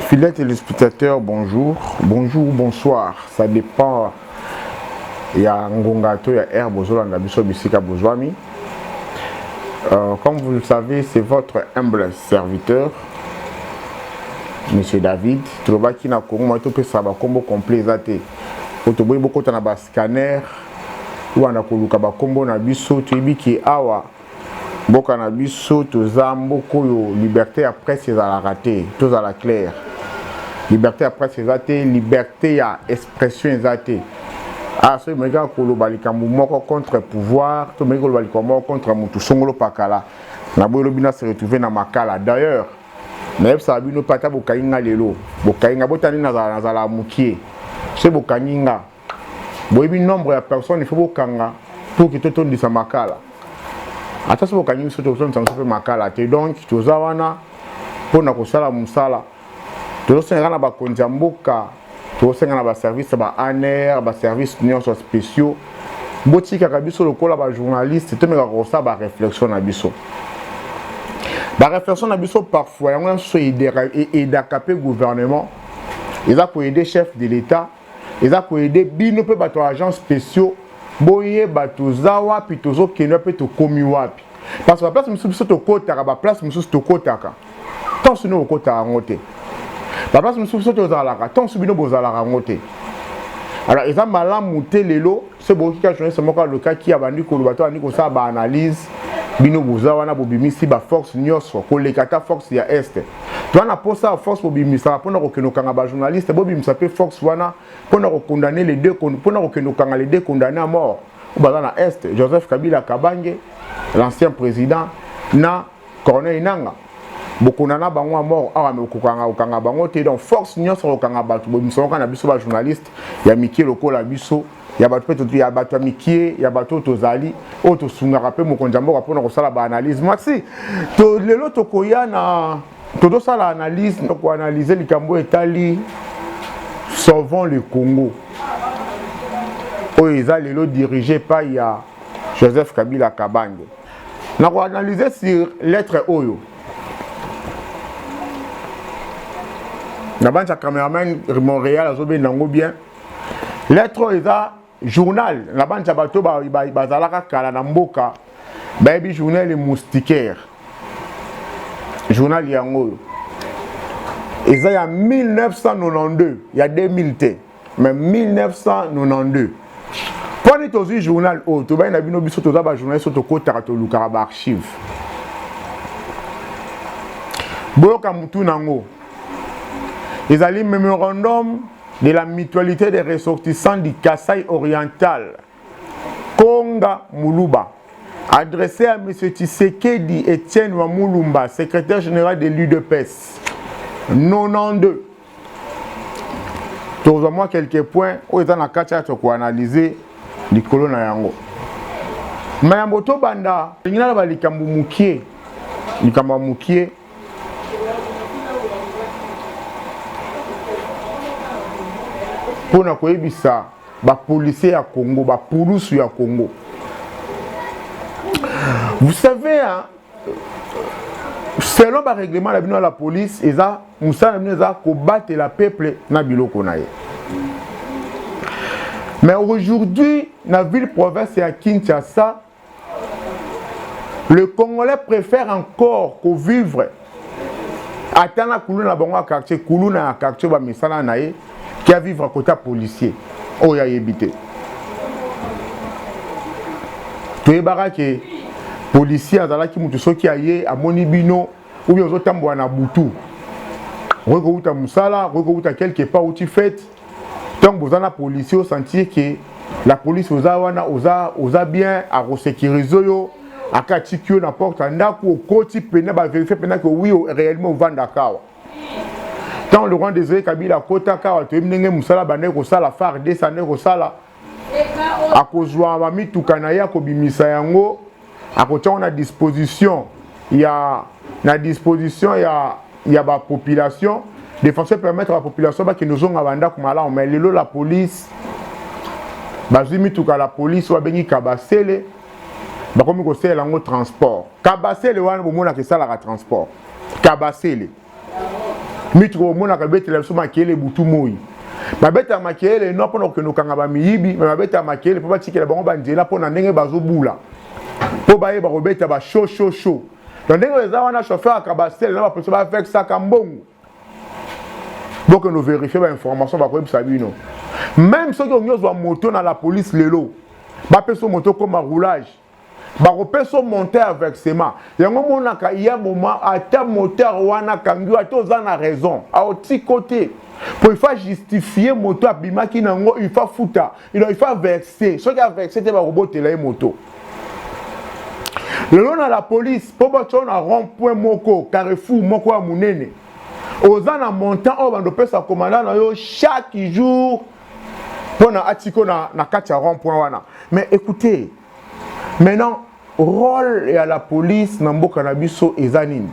Fidèle téléspectateur, bonjour. Bonjour, bonsoir. Ça dépend ya ngonga to ya air bozolanda biso bisika bozwami. Euh, comme vous le savez, c'est votre humble serviteur, Monsieur David. Tolobaki na Congo, moi topesa ba combo complet eza te. Po toboyi bokota na ba scanner, wana koluka ba combo na biso, toyebi ki awa Mboka na biso toza mboka oyo liberte ya presse ezalaka te, tozala claire. Liberte ya presse eza te, liberte ya expression eza te. Ah, soki omeki kaka koloba likambo moko contre pouvoir, to omeki koloba likambo moko contre motu songolo pakala, na boye lobi na se retrouver na makala. D'ailleurs, nayebisaka bino mpe ata bokangi nga lelo, bokangi nga botani nazala nazala mokie, soki bokangi nga boyebi nombre ya personne il faut bokanga pour que totondisa makala ata soki bokangi biso tokotondisa biso mpe makala te donc toza wana mpo na kosala mosala tozosengaka na bakonzi ya mboka tozosenga na baservice ya baaner baservice nyonso spéciaux botikaka biso lokola bajournaliste tomekaka kosala bareflexion na biso bareflexion na biso parfois yango nyonso edaka mpe gouvernement eza koaide chef de l'état eza ko aider bino pe bato ya agents spéciaux boyeba toza wapi tozokende wapi tokomi wapi parce que baplace mosusu biso tokotaka baplace mosusu tokotaka ntanso bino bokotaka yango te baplace mosusu biso tozalaka ntanso bino bozalaka yango te alors eza malamu te lelo so boyoki kaka journaliste moko alukaki abandi koloba to abandi kosala baanalyse bino boza wana bobimisi baforce nyonso koleka ata force ya este toza na mposa ya force bobimisaka mpo na kokende kokanga bajournaliste bobimisa mpe force wana mpo na kokondane les deux mpo na kokende kokanga les deux condamne à mort oyo baza na este joseph kabila kabange l'ancien président na Corneille Nanga bokona na bango a mort awa me kokanga kokanga bango te donc force nyonso kokanga bato bomisaoka na biso ba journaliste ya mikie lokola biso ya bato mpe ya bato ya mikie ya bato oyo tozali oyo tosungaka mpe mokonzi ya mboka mpona kosala baanalyse merci to, lelo tokoya na tozosala analyse koanalyse likambo etali sauvons le congo oyo eza lelo dirige epai ya joseph kabila kabange na ko analyser sur lettre oyo na banza cameraman Montréal azobenda yango bien lettre oyo eza journal na banza bato bazalaka kala na mboka bayebi journal le moustiquaire journal yango oyo eza ya 1992 ya 2000 te mais 1992 mpo nini tozwi journal oyo oh, tobandi na bino biso toza bajournaliste oyo tokotaka tolukaka baarchive boyoka motu na yango ezali memorandum de la mutualité des ressortissants du kasai oriental Konga Muluba adresse à M. Tshisekedi Etienne wa Mulumba, secrétaire général de l'UDPS. 92. Tozwa mwa quelques points oyo eza na kati ya tokoanalyse likolo na yango. Mayambo tobanda lingi naloba likambo mokie, likambo ya mokie mpo na koyebisa ba policiers ya Congo ba pulusu ya Congo vous savez hein, selon ba règlement na bino ya la police eza mosala na bino eza kobatela peuple na biloko na ye mais aujourd'hui na ville province ya Kinshasa le congolais préfère encore ko vivre ata na kuluna na bango ya quartier kuluna ya quartier ba misala na ye kia vivre kota policier oyo ayebi te toyebaka ke policier azalaki moto soki aye amoni bino oyo ozotambola na butu okoki kowuta mosala okoki kowuta quelque part outi fete ntango boza na policier osentir ke la police oza wana oza, oza bien akosecurise yo aka atiki yo na porte ya ndako okoti mpena baverifie mpena ke wi réellement ovandaka awa ntango le grand desire kabila akotaka awa toyebi ndenge mosala bandaki kosala fardc andaki kosala akozwa ba mituka na ye akobimisa yango akotia na disposition ya na disposition ya ya ba population de façon permettre ba population bakende ozonga bandako malamu mais lelo la police bazwi mituka la police oyo babengi kabasele bakomi kosalela yango transport kabasele wana bomonaka esalaka transport kabasele mitu komonaka betela biso makele butu moi babetaka makele no mpona kokende kokanga bamiyibi me babetaka makele mpo batikela bango banzela mpo na ndenge bazobula mpo bayeba kobeta ba show show show na ndenge eza wana chauffeur akabasele na bapolisi bavexaka mbongo bokende overifie bainformation bakoyebisa bino meme soki olingi ozwa moto na la police lelo bapesa moto okoma roulage bakopesa monte ya versement yango monaka ya moma ata moteur wana akangi ata oza na raison aotiko te po ifa justifie moto abimaki na yango ifa futa ino ifa verse soki averse te bakobotela ye moto lelo na la police mpo batyo na rond point moko carrefour moko ya monene oza na montant oyo bandopesa komanda na yo chaque jour pona atiko na, na kati ya rond point wana mais écoutez maintenant rôle ya la police na mboka na biso eza nini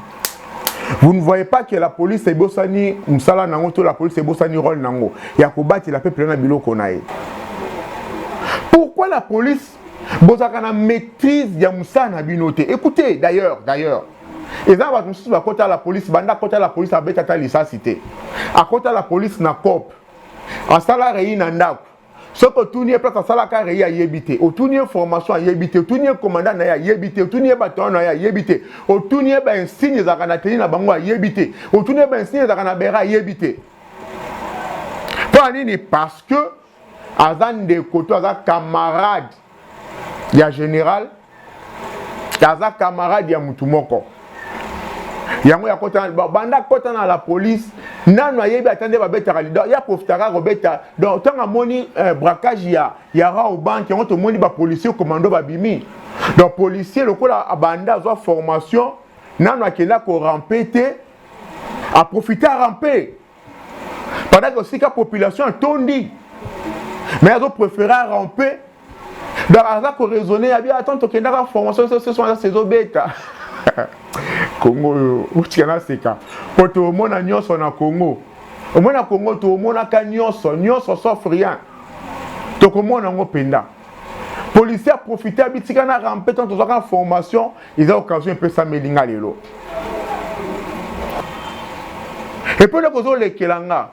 vous ne voyez pas que la police ebosani mosala nango to la police ebosani rôle nango ya kobatela peuple na biloko na ye pourquoi la police bozalaka na maîtrise ya mosala na bino te écoutez d'ailleurs d'ailleurs eza bato mosusu bakota la police banda akota la police abeta ata lisasi te akota la police na cope asala reyi na ndako soki otuni ye place asalaka reyi ayebi te otuni ye formation ayebi te otuni ye komanda na ye ayebi te otuni ye batoyo na ye ayebi te otuni ye bainsigne ezalaka na teni na bango ayebi te otuni ye bainsigne ezalaka na bera ayebi te mpo ya nini parce que aza ndeko to aza camarade ya general aza camarade ya mutu moko yango ya kota banda kota na la police nanu ayebi ata nde babetaka lido ya profitaka kobeta donc ntango amoni eh, braquage ya ya rao banke yango tomoni bapolicier commando babimi donc policier lokola abanda azwa formation nanu akenda korampe te aprofite arampe Pendant que sika population atondi. Mais azo préférer à ramper. Donc aza ko raisonner ya bien attends tokendaka formation ce ce soir saison beta. Congo oyo otika na seka. Po tomona nyonso na Congo. Omona Congo tomonaka nyonso, nyonso sauf rien. Tokomona yango mpenza. policier aprofite abitika na rampe ntango tozwaka formation eza occasion epesameli nga lelo epe eloko ozolekela nga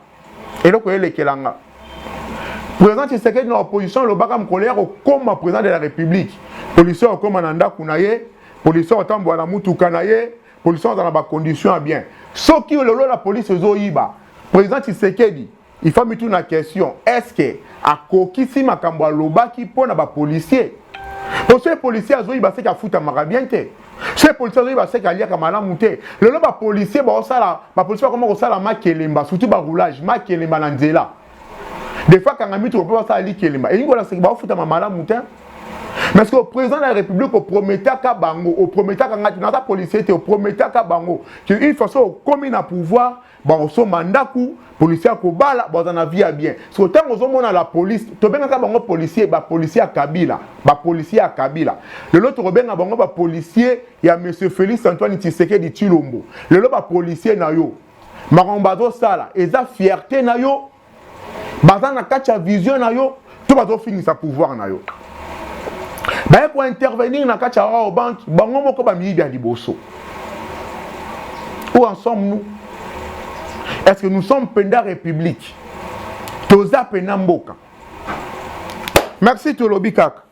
eloko elekela nga président tshisekedi na opposition elobaka mokolo ya kokoma président de la république policier akokoma na ndako na ye policier akotambola na motuka na ye policier azala na bacondition ya bien soki lelo la polise ezoyiba président tshisekedi Il faut mituna question est ce que akokisi makambo alobaki mpo na bapolisier mpo soki policier azoyiba seke afutamaka bien te soki policier azoyiba seke aliaka malamu te lelo bapolisier baosala bapolisier bakoma kosala makelemba surtout baroulage makelemba na nzela des fois kanga mitoko mpe basala likelemba elingi kolakisa ke baofutama malamu te mais ce que président de la république oprometaka bango oprometaka ngai te naza policier te oprometaka bango ke une façon okomi na pouvoir bakosomba ndako policier akobala baza na vie ya bien siko ntango ozomona la police tobengaka bango policier bapolicier ya kabila bapolicier ya kabila lelo tokobenga bango bapolicier ya monsieur félix antoine tshisekedi tshilombo lelo bapolicier na yo makambo bazosala eza fierte na yo baza na kati ya vision na yo to bazofingisa pouvoir na yo baye kointervenir na kati ya rao bank bango moko bamiyibi ya liboso où en sommes nous est ce que nous sommes penda république toza pena mboka merci tolobi kaka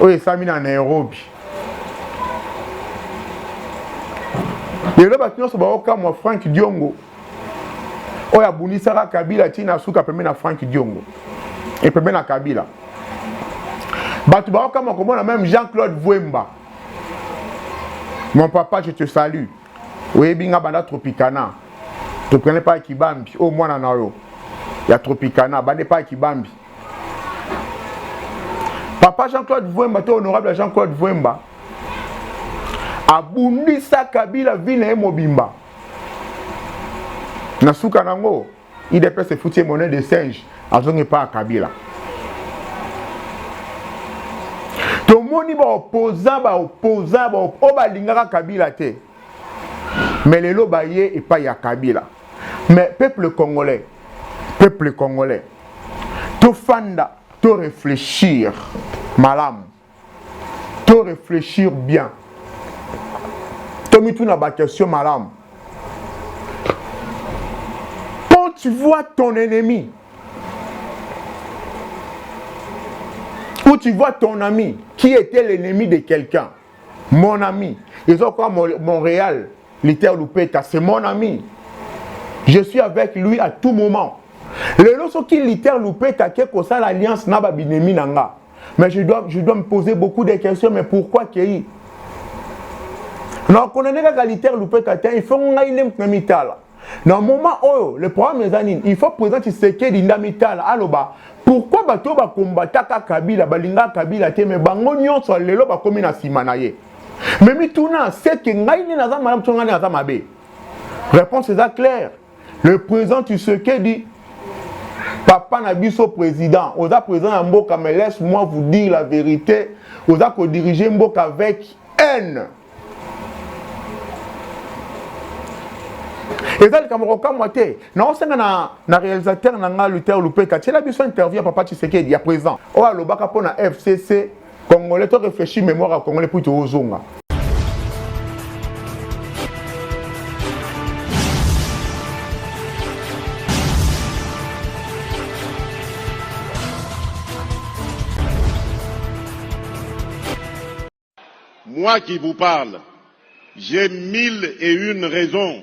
oyo esami na nairobi lelo bato nyonso baokamwa frank diongo oyo abundisaka kabila ntina asuka pembe na frank diongo epembe na kabila bato baokamwa komona meme jean claude vuemba mon papa je te salue oyebi nga banda tropicana tropicana epai ya kibambi oyo mwana na yo ya tropicana banda epai ya kibambi papa jean claude vwemba to honorable ya jean claude vwemba abundisa kabila vi na ye mobimba na suka na yango idps efuti ye monnaie de singe azongi epai ya kabila tomoni baopoza baopoza oyo balingaka kabila te me lelo baye epai ya kabila me peuple congolais peuple congolais tofanda to réfléchir malamu to reflechir bien tomituna baquestion malamu quand tu vois ton ennemi ou tu vois ton ami qui était l'ennemi de quelqu'un mon ami ils ont quoi montréal liter lupeta c'est mon ami je suis avec lui à tout moment lelo soki liter lupeta ake kosala alliance na babinemi na nga mais je dois, je dois me poser beaucoup de questions mais pourquoi kei nakondane kaka liter lupeta te il faut ngai nde moto na mitala na moment oyo le problème eza nini il faut président tshisekedi nde amitala aloba pourquoi bato oyo bakombataka kabila balingaka kabila te me bango nyonso lelo bakomi na nsima na ye me mituna seke ngai nde naza malamu to ngai nde naza mabe réponse eza claire Le président Tshisekedi, papa na biso président, oza président ya mboka, mais laisse-moi vous dire la vérité, oza ko diriger mboka avec haine. eza likambo kokamwa te naosenga na, na réalisateur na ngai luther lupeka tiela biso interview ya papa tshisekedi ya président oyo alobaka mpo na fcc Congolais to réfléchir mémoire ya Congolais puis tozonga. Moi qui vous parle, j'ai mille et une raisons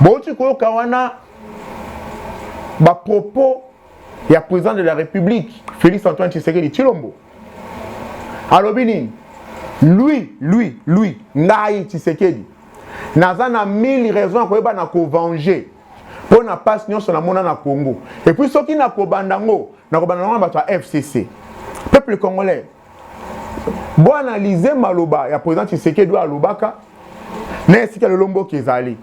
bauti koyoka wana bapropos ya président de la république félix antoine tshisekedi tshilombo alobi nini lui lui lui ngai tshisekedi naza na 1000 raison ya koyeba na kovange mpo na mpasi nyonso namona na congo epuis soki nakobanda yango nakobanda yango na bato ya fcc peuple congolais bo analyse maloba ya président Tshisekedi oyo alobaka na esika lelo mboka ezali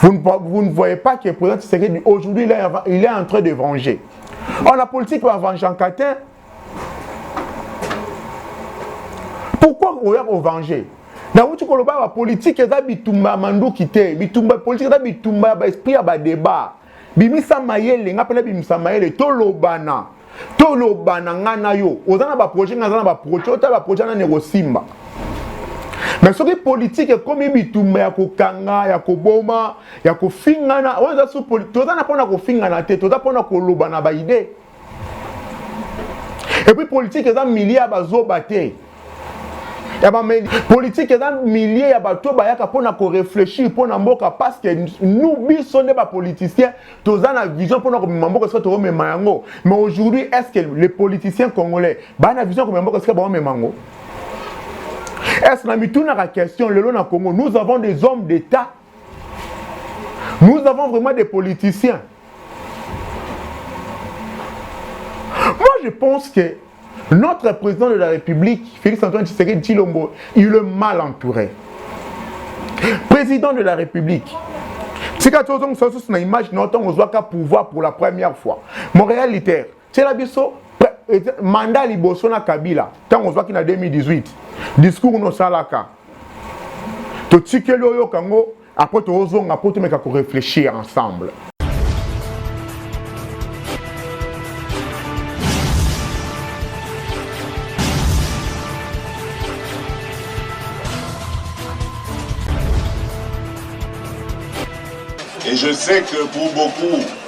vous ne, vous ne voyez pas que président Tshisekedi aujourd'hui il, il est en train de venger on a politique ba vengeanka te pourquoi oya kovenger nauti koloba bapolitike eza bitumba ya manduki te bitumba politike eza bitumba ya baesprit ya badeba bimisa mayele nga mpe nabimisa mayele tolobana tolobana nga na yo oza na baprojet nga aza na baprojet ota baprojet nani ekosimba me soki politike ekomi bitumba ya kokanga ya koboma ya kofingana oyo eza su toza na mpona kofingana te toza mpona koloba na baide Et puis politique eza milieu ya bazoba te ya bameli politike eza milie ya bato bayaka mpo na koreflechir mpo na mboka parce que nous biso nde bapoliticien toza na vision mpo na komema mboka esika tokomema yango mais aujourd'hui est ce que les politiciens congolais baa na vision ya komema mboka esika bakomema yango est ce na mitunaka question lelo na congo nous avons des hommes d'état Nous avons vraiment des politiciens. Moi, je pense que notre président de la République, Félix-Antoine Tshisekedi Chilombo, il est mal entouré. Président de la République, tika tozongisa lisusu na image na yo ntango ozwaka pouvoir pour la première fois mon réalité tiela biso manda liboso na kabila ntango ozwaki na 2018 discours nosalaka totikeli oyoka yango apres toozonga mpo tomeka koreflechir ensemble Et je sais que pour beaucoup,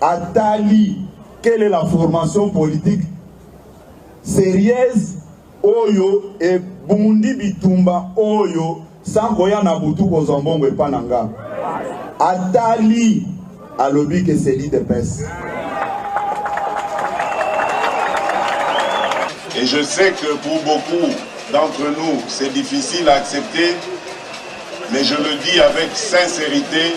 atali quelle est la formation politique serieuse oyo ebundi bitumba oyo sans koya na butu kozwa mbongo epa na nga atali alobi ke seli de pese Et je sais que pour beaucoup d'entre nous, c'est difficile à accepter, mais je le dis avec sincérité,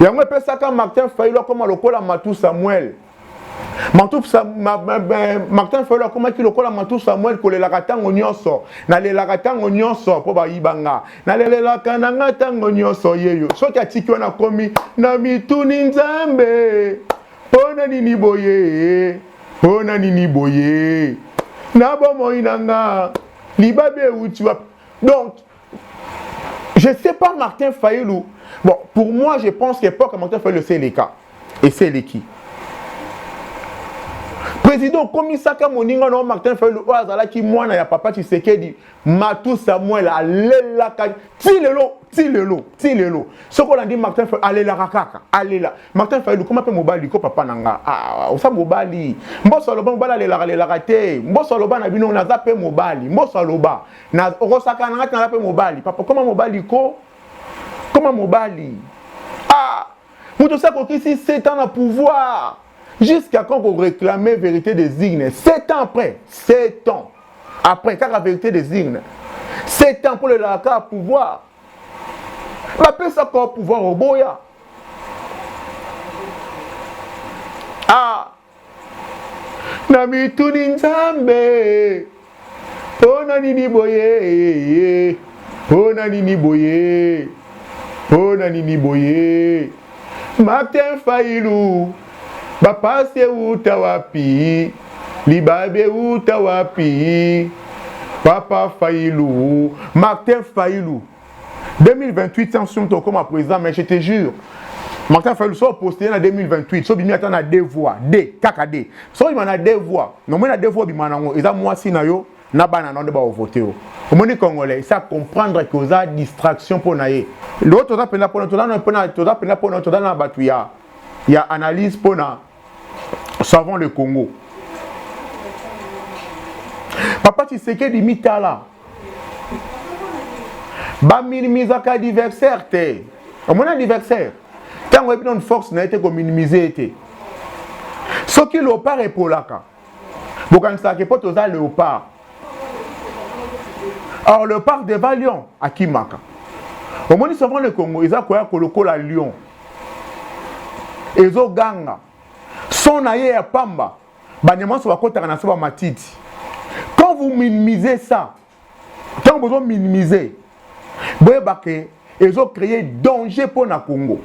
yango epesaka martin fayulu akoma lokola matu samuel matu sa, ma, ma, ma, martin fayulu akomaki lokola matu samuel kolelaka ntango nyonso nalelaka ntango nyonso mpo bayiba nga nalelelaka na nga ntango nyonso yeyo soki atiki wana akomi na mituni nzambe mpo na nini boye mpo na nini boye na bomoi na nga libabe euti wapi donc Je sais pas Martin Fayulu. Bon, pour moi, je pense qu'époque Martin Fayulu, c'est les cas. Et c'est les qui. Président Komisaka Moninga non Martin Fayulu oyo azalaki mwana ya papa Tshisekedi Matou Samuel alelaka ti lelo ti lelo ti lelo soki olandi Martin Fayulu alelaka kaka alela Martin Fayulu koma mpe mobali ko papa na nga ah, osa mobali mboso aloba mobali alelaka alelaka te mboso aloba na bino naza mpe mobali mboso aloba na okosakana ngati naza mpe mobali papa koma mobali ko koma mobali ah moto osi akokisi 7 ans na pouvoir jusqu'à quand koréclame vérité des urnes 7 ans après 7 ans après kaka vérité des urnes 7 ans mpo lelaka kaka pouvoir bapesa kaka pouvoir oboya ah na mituni nzambe mpo na nini boye mpo na nini boye mpo na nini boye martin failu bapasi euta wapi libabe euta wapi papa failu martin failu 2028 sans somme tokoma président mais je te jure martin fayulu so postele na 2028 so bimi ata na deux voix d kaka d so bima na deux voix nomoi na deux voix obima nango eza mwasi na yo na bana na yo nde baovote yo omoni congolais esa comprendre ke oza distraction mpo na ye lelo toza mpenza mpona toza mpenza mpona toza na bato ya ya analyse mpona savon le congo papa tshisekedi mitala baminimizaka adversaire te omoni adversaire ntango oyebi nano force na ye te kominimize ye te soki lopar epolaka bokanisaka ke mpo toza leopard or leopard deva lion akimaka omoni souvent le congo eza koya kolokola lion ezoganga son na ye ya pamba banyama nyonso bakotaka na se bamatiti quand vous minimisez ça ntango bozo minimiser boyeba ke ezo créer danger mpo na congo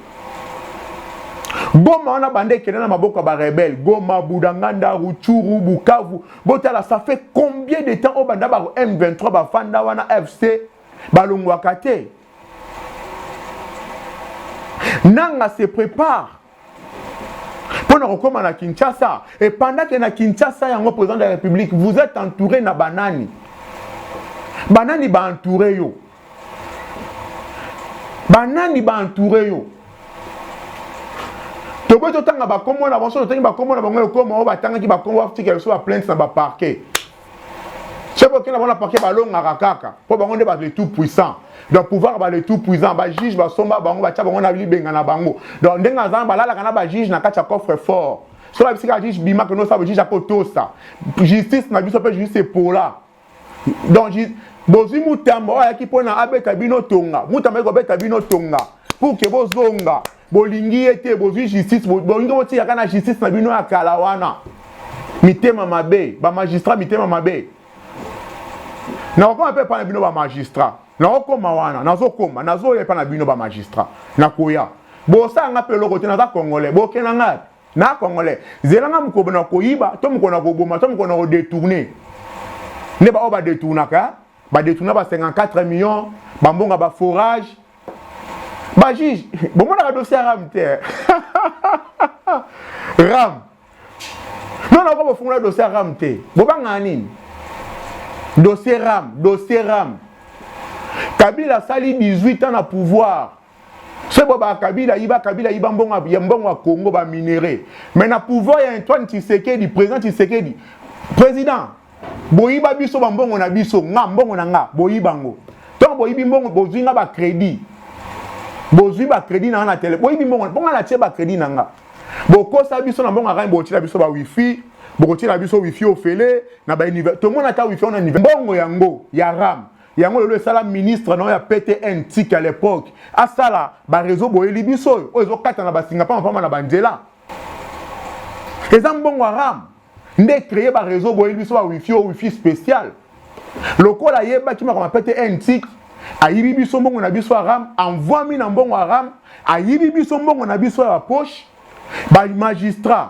goma wana banda ekenda na maboko ya barebele goma budanganda ruchuru bukavu botala ça fait combien de temps oyo banda ba m23 bafanda wana fc balongwaka te nanga se prépare mpo na kokoma na kinshasa epandake na kinshasa yango président de la république vous êtes entouré na banani banani baentoure yo banani baentoure yo toboyi totanga bakombo na bango so totangi bakombo na bango ekoma oyo batangaki bakombo batika biso baplainte na baparquet soki okenda bango na parke balongaka kaka mpo bango nde bato le tout puissant donc pouvoir ba le tout puissant bajuge basomba bango batya bango na libenga na bango donc ndenge aza balalaka na bajuge na kati ya coffre fort soki babisi kaka juge bimaka nosa bajuge akotosa justice na biso mpe justice epola donc bozwi mutamba oyo ayaki mpo na abeta bino tonga mutamba ayaki kobeta bino tonga pour ke bozonga bolingi ye te bozwi justice bolingi botika kaka na justice na bino ya kala wana mitema mabe bamagistrat mitema mabe nakokoma mpe epai na bino bamagistrat nakokoma wana nazokoma nazoya epai na bino bamagistrat nakoya bosala nga mpe eloko te naza congolais bokenda nga na congolais zela nga mokolo na koyiba to mokolo na koboma to mokolo na kodetourne nde baoyo badetournaka badetuna ba 54 millions bambonga ba forage bajuge bomonaka dossier ya ram te ram nona oko bofungola dossier ya ram te bobangaka nini dossier ram dossier ram kabila asali 18 ans na pouvoir soki bo ba kabila ayiba kabila ayiba mbongo ya mbongo ya congo ba minerais mais na pouvoir ya antoine tshisekedi président tshisekedi président boyiba biso bambongo na biso nga mbongo na nga boyiba ngo ntango boyibi mbongo bozwi nga bacrédit bozwi bacrédit na nga na tele boyibi mbongo mpo nga natie bacrédit na nga bokosa biso na mbongo akani bokotiela biso bawifi bokotiela biso wifi ofele na bauniver tomona ata wifi ona mbongo yango ya ram yango lelo esala ministre na oyo ya ptn tiki à l'époque asala bareseau boyeli biso oyo oyo ezokatana basinga mpamba mpamba na banzela eza mbongo haram nde créer ba réseau boye biso ba wifi o wifi spécial lokola ayebaki makoma pete ntik ayibi biso mbongo na biso aram envoimi na mbongo aram ayibi biso mbongo na biso ya bapoche bamagistrat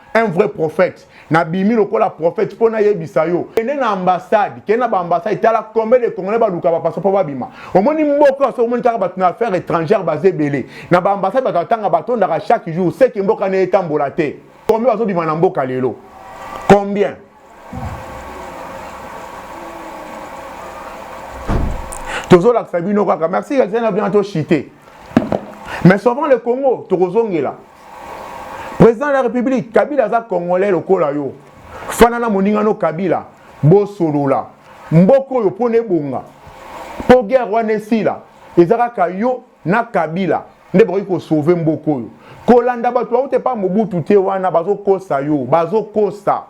un vrai prophète na bimi lokola prophète mpo nayebisa yo kende na ambassade kende na baambassade tala combien de congolais baluka bapasa mpo babima omoni mboka oso omoni kaka bato na affaire étrangère baza ebele na baambassade bato atanga batondaka chaque jour seke mboka na etambola te combien bazobima na mboka lelo combien tozolakisa bino kaka merci kakisana bino toshite mais souvent le congo tokozongela Président de la République, Kabila aza congolais lokola yo. Fana na moninga no Kabila, bosolola. Mboko oyo pona ebonga. Po guerre wana esila, eza kaka yo na Kabila nde bokoki ko sauver mboko oyo. Kolanda bato baute pa Mobutu te wana bazokosa yo, bazokosa.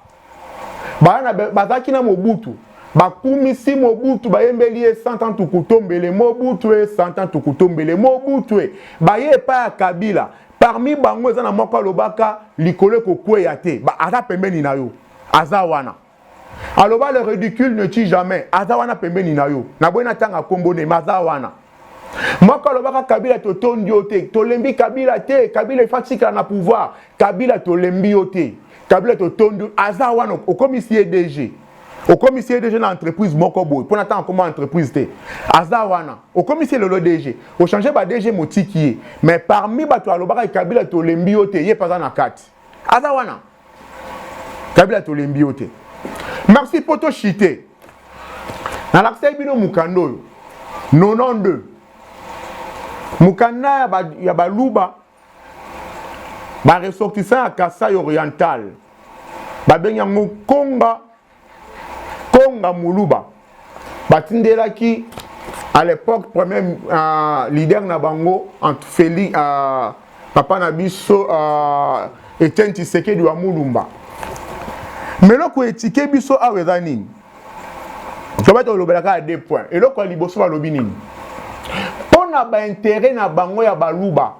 bana bazalaki na mobutu bakumisi mobutu bayembeli ye santa tukutombele mobutu e santa tukutombele mobutu e baye epai ya kabila parmi bango eza na moko alobaka likolo ekokweya te aza pembeni na yo aza wana aloba le ridicule ne tue jamais aza wana pembeni na yo naboyi natanga nkombo ne me aza wana moko alobaka kabila totondi yo te tolembi kabila te kabila efa tikala na pouvoir kabila tolembi yo te kabila totondi aza wana okomisi ye dg okomisi ye dg na entreprise moko boye mpo na ntango akoma entreprise te aza wana okomisi ye lelo dg ochange ba dg motiki ye mais parmi bato alobaka kabila tolembi yo te ye mpe aza na kati aza wana kabila tolembi yo te merci mpo toshite nalakisaki bino mokanda oyo 92 mokanda ya baluba baressortissant ya kasai oriental babengi yango konga Konga Muluba batindelaki à l'époque premier uh, leader na bango entre Feli uh, papa na biso uh, Etienne Tshisekedi wa Mulumba mais eloko etike biso awa eza nini tobati olobelaka ya deux points eloko ya liboso balobi nini mpo na baintere na bango ya baluba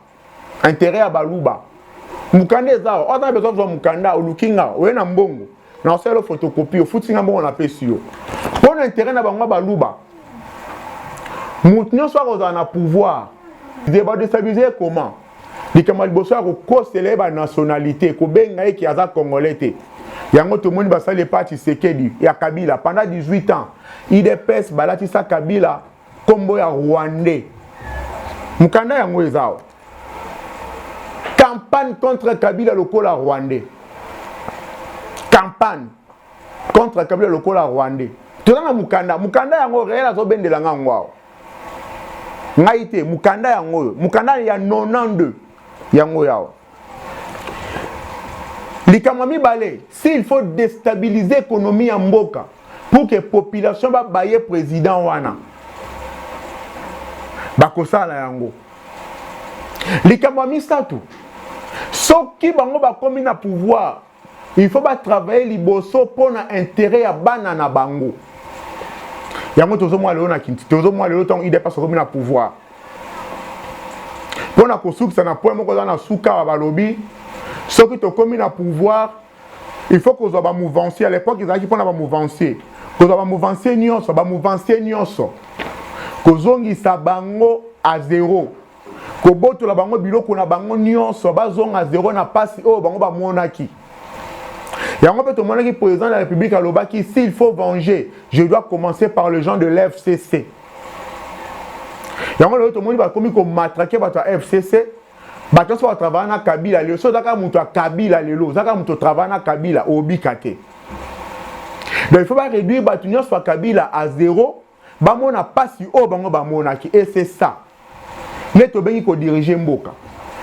interet ya baluba mukanda eza awa ozana besoin kozwa mukanda oluki nga oye na mbongo na osala yo photocopie ofuti nga mbongo napesi yo mpo na interet na bango baluba moto nyonso akozala na pouvoir de badestabilise ye comment likambo ya liboso ya kokosela ye banationalité kobenga ye ke aza congolais te yango tomoni basali epai ya tshisekedi ya kabila pendant 18 ans idps balatisa kabila nkombo ya rwandais mokanda yango eza awa campagne contre kabila lokola rwandais campagne contre kabila lokola rwandais toza na mokanda mokanda yango reel azobendela nga yango awa ngai te mokanda yango oyo mokanda ya 92 yango yawa likambo ya mibale s'il faut destabiliser économie ya mboka pour que population babaye président wana bakosala yango likambo ya misato soki bango bakomi na pouvoir il faut ba travailler liboso mpo na interet ya bana na bango yango tozomona lelo na kinti tozomona lelo ntango idps akomi na pouvoir mpo na kosukisa na point moko eza na sukawa balobi soki tokomi na pouvoir il faut kozwa bamouvancier à l'époque ezalaki mpo na bamouvancier kozwa bamouvancier nyonso bamouvancier nyonso kozongisa bango a zero kobotola bango biloko na bango nyonso bazonga zero na mpasi oyo bango bamonaki yango mpe tomonaki président de la république alobaki s'il faut venger je dois commencer par le gens de l'fcc yango lelo tomoni bakomi komatrake bato ya fcc bato nyonso batravaya na kabila lelo so ozaka moto ya kabila lelo ozaka moto otravaya na kabila obika te donc il faut baréduire bato nyonso ya kabila a zero bamona pasi oyo bango bamonaki et c'est ça nde tobengi kodirige mboka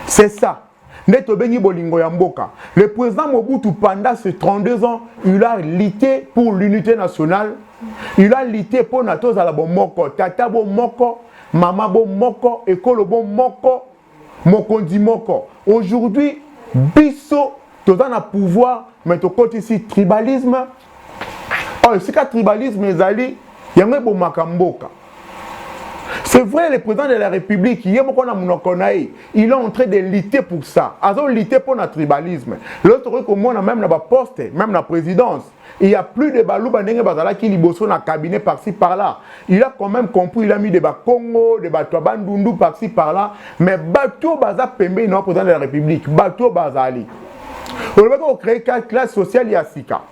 c'est ça nde tobengi bolingo ya mboka le président mobutu pendant ce 32 ans il a lutté pour l'unité nationale il a lutté mpo na tozala bomoko tata bomoko mama bomoko ekolo bomoko mokonzi moko aujourd'hui biso toza na pouvoir mais tokotisi tribalisme oyo oh, esika tribalisme ezali yango ebomaka mboka c'est vrai le président de la république ye moko na monoko na ye il est en train de lutter pour ça azo lutter mpo na tribalisme lelo tokoki komona même na baposte même na présidence Il y a plus de Baluba ndenge bazalaki liboso na cabinet par-ci par-là. Il a quand même compris, il a mis des Bakongo, des Bato Bandundu par-ci par-là. Mais Bato Baza Pembe, il n'a pas de la République. Bato Bazali. On va créer une classe sociale ya sika.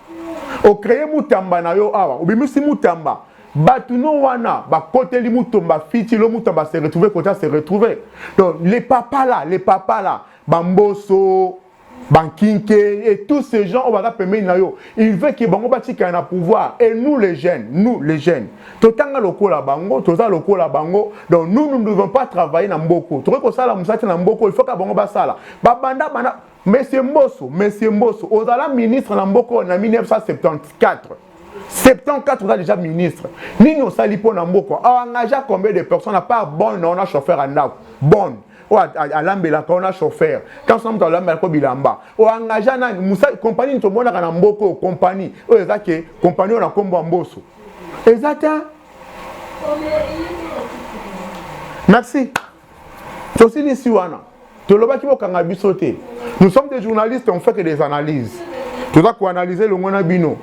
On crée Moutamba na yo awa. Obimisi Moutamba. Bato no wana bakoteli Mutomba fiti lo Moutamba se retrouver kota se retrouver. Donc les papas là, les papas là, Bamboso bankinke et tous ces gens oyo baza pembeni na yo il veut ke bango batikala na pouvoir et nous les jeunes nous les jeunes totanga lokola bango toza lokola bango donc nous nous ne devons pas travailler na mboko tokoki kosala mosala te na mboko il faut ka bango basala babanda banda monsieur mboso monsieur mboso ozala ministre na mboko na 1974 74 oza déjà ministre nini osali mpo na mboko aengagea combien de personnes à part bonne na ona chauffeur ya ndako bonne oyo alambelaka wana chauffeur kasi na moto alambelaka bilamba oyo engagea nani mosali kompani nini tomonaka na mboka oyo kompani oyo eza ke kompani oyo na nkombo ya mboso eza te merci tosilisi wana tolobaki bokanga biso te nous sommes des journalistes on fait que des analyses toza koanalyse elongo na bino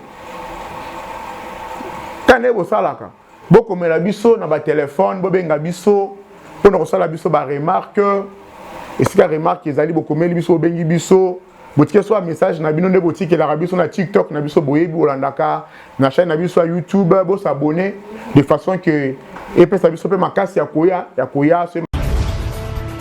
kande bosalaka bokomela biso na batelefone bobenga biso mpo na kosala biso baremarke esika remarke ezali bokomeli biso bobengi biso botike so bamessage na bino nde botikelaka biso na tiktok na biso boyebi bolandaka na chaine na biso ya youtube bosabone de façon ke epesa biso mpe makasi ya koya ya koya